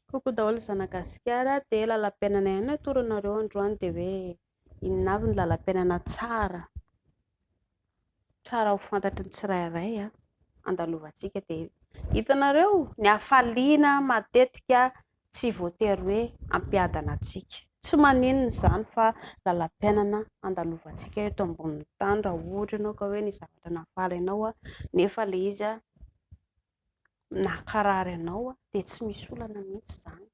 Coucou daholo ry zanagasikara dia lalam-piainana ihany no atoronareo androany dia hoe inona avy ny lalam-piainana tsara tsara ho fantatry ny tsirairay an! andalovantsika dia hitanareo ny hafaliana matetika tsy voatery hoe hampiadana antsika tsy maninona izany fa lalam-piainana andalovantsika eto ambonin'ny tany raha ohatra ianao ka hoe ny zavatra nahafaly anao nefa ilay izy an! nakarary anao aho dia tsy misy olana mihitsy izany.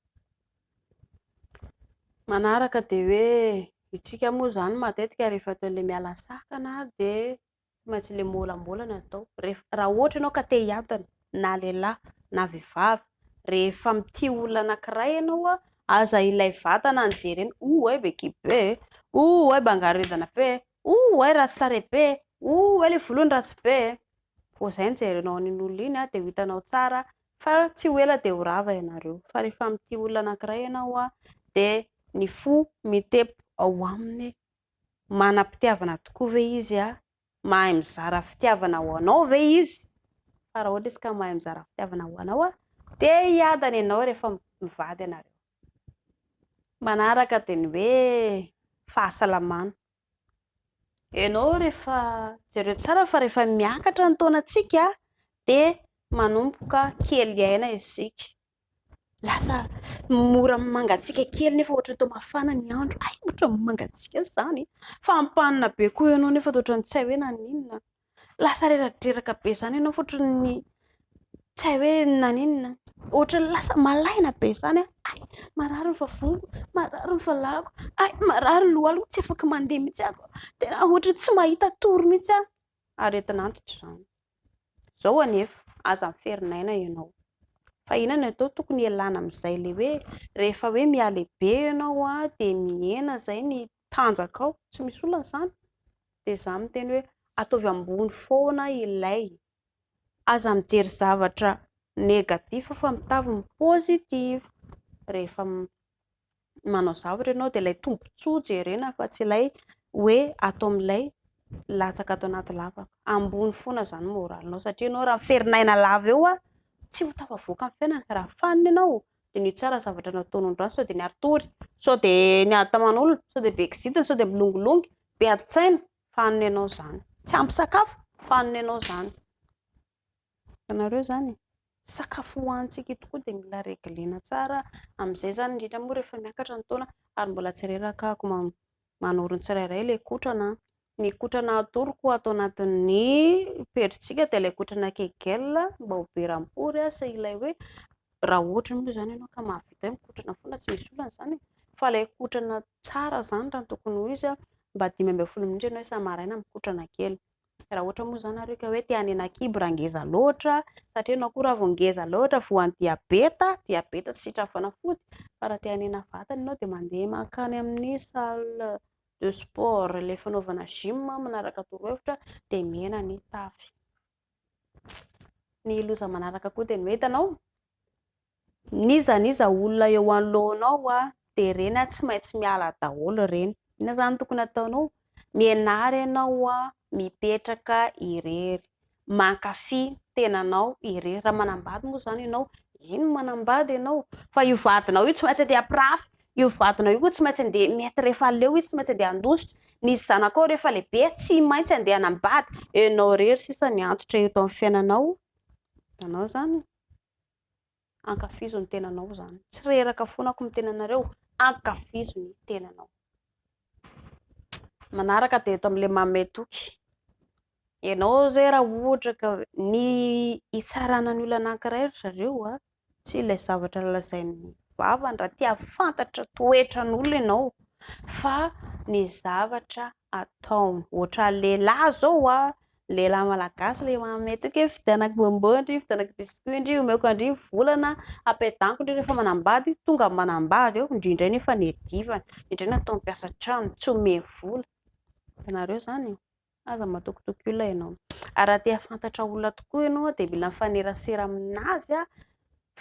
Manaraka dia hoe isika moa izany matetika rehefa atao ilay miala sakana dia tsy maintsy ilay miolambolana atao. Rehefa, raha ohatra ianao ka te hiadana na lehilahy na vehivavy, rehefa mitia olona anankiray ianao an, aza ilay vatana no jerena, oh hay bekiby be e, oh hay bangaredana be e, oh hay ratsy tarehy be e, oh hay ilay volony ratsy be e. vao izay no jerenao an'iny olona iny dia ho hitanao tsara fa tsy ho ela dia ho rava ianareo fa rehefa mitia olona anankiray ianao dia ny fo mitepo ao aminy manam-pitiavana tokoa ve izy? mahay mizara fitiavana ho anao ve izy? fa raha ohatra izy ka mahay mizara fitiavana ho anao dia hiadana ianao rehefa mivady ianareo manaraka dia ny hoe fahasalamana Ianao rehefa jereo tsara fa rehefa miakatra ny taonantsika dia manomboka kely aina isika. Lasa mora mangatsiaka kely nefa ohatran'ny toa mafana ny andro. Hay ohatran'ny mangatsiaka izany. Fampanina be koa ianao nefa ohatran'ny tsy hay hoe naninona. Lasa reradreraka be izany ianao fotry ny tsy hay hoe naninona. Ohatra ny lasa malaina be izany an, hay marary ny vavoniko, marary ny valahako, hay marary ny lohaliko, tsy afaka mandeha mihitsy aho, tena ohatra ny tsy mahita tory mihitsy aho. Aretin'antitra izany. Izao anefa, aza miferina aina ianao. Fa inona no atao? Tokony hialana amin'izay ilay hoe rehefa hoe mihalehibe ianao dia mihena izay ny tanjakao, tsy misy olana izany, dia izaho miteny hoe ataovy ambony foana ilay, aza mijery zavatra negatif fa mitavy ny positif, rehefa manao zavatra ianao dia ilay tombotsoa jerena fa tsy ilay hoe atao amin'ilay latsaka ato anaty lavaka, ambony foana izany ny moralinao satria ianao raha miferinaina lava eo tsy ho tafavoaka amin'ny fiainana, raha fanina ianao dia ny tsara zavatra nataony ny ratsy sao dia ny ary tory sao dia ny ady taman'olona sao dia be kizitina sao dia milongilongy be ady tsaina fa hanina ianao izany tsy ampy sakafo fa hanina ianao izany ianareo izany e. sakafo hohanintsika eto koa dia mila reglena tsara amin'izay izany indrindra moa rehefa miakatra ny taona ary mbola tsy reraka ako mama manoro ny tsirairay ilay kotrana an! Ny kotrana atoroko ato anatin'ny pejintsika dia ilay kotrana kegel mba ho be rampory an! sy ilay hoe raha ohatra moa izany ianao ka mahavita hoe mikotrana foana tsy misy olana izany e! fa ilay kotrana tsara izany raha ny tokony ho izy an! mba dimy ambin'ny folo minitra ianao isa-maraina mikotrana kely. Raha ohatra moa izany nareo ka hoe te hanena kibo raha ngeza loatra, satria ianao koa raha vao ngeza loatra, voan'ny diabeta, diabeta tsy sitrapo fanafody, fa raha te hanena vatana ianao dia mandeha mankany amin'ny salle de sport, ilay fanaovana gym manaraka torohevitra, dia mihena ny tavy. Ny loza manaraka koa dia ny hoe hitanao, N'iza n'iza olona eo anoloanao a dia ireny a tsy maintsy miala daholo ireny. Inona izany tokony ataonao? Mianara ianao a mipetraka irery, mankafy ny tenanao irery. Raha manambady moa izany ianao, eny manambady ianao fa io vadinao io tsy maintsy andeha hampirafy, io vadinao io koa tsy maintsy andeha mety rehefa aleo izy tsy maintsy andeha handositra, ny zanakao rehefa lehibe tsy maintsy andeha hanambady. Ianao irery sisa miantotra eto amin'ny fiainanao, hitanao izany? ankafizo ny tenanao zany, tsy reraka foana akory ny tenanareo, ankafizo ny tenanao. Manaraka dia eto amin'ilay manome toky, ianao ze raha ohatra ka ny hitsarana ny olona anankiray ry zareo a, tsy ilay zavatra lazain'ny vavany raha te hahafantatra toetran'olona ianao fa ny zavatra ataony. Ohatra lehilahy zao a, lehilahy malagasy le manome toky hoe vidianako bonbon ndry, vidianako biscuit ndry, omeko andry volana, apedanko ndry rehefa manambady, tonga ny manambady eo, ndry ndray nefa nedivan, ndry ndray natao mpiasa an-trano, tsy ome vola, hitanareo zany e, aza matokitoky olona ianao, ary raha te hahafantatra olona tokoa ianao dia mila mifanerasera amin'azy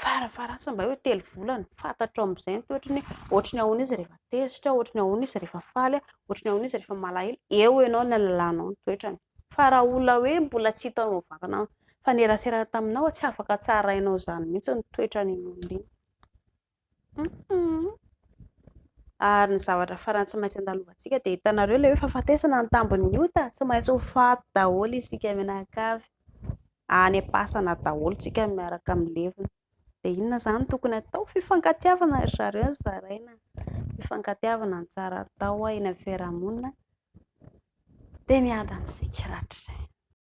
farafaharatsa mba hoe telo volana, fantatrao amin'izay ny toetrany hoe ohatry ny ahoana izy rehefa tezitra, ohatry ny ahoana izy rehefa faly, ohatry ny ahoana izy rehefa malahelo, eo ianao ny halalanao ny toetrany. Fa raha olona hoe mbola tsy hitanao vakana nifanerasera taminao, tsy afaka tsarainao izany mihitsy ny toetran'iny olona iny. Ary ny zavatra farany tsy maintsy andalovantsika dia hitanareo ilay hoe fahafatesana ny tambin'ny ota, tsy maintsy ho faty daholo isika mianakavy, any am-pasana daholo isika miaraka amin'ny levona. Dia inona izany no tokony hatao? Fifankatiavana ry zareo no zaraina, fifankatiavana no tsara atao eny amin'ny fiarahamonina dia miadana isika rahatrizay.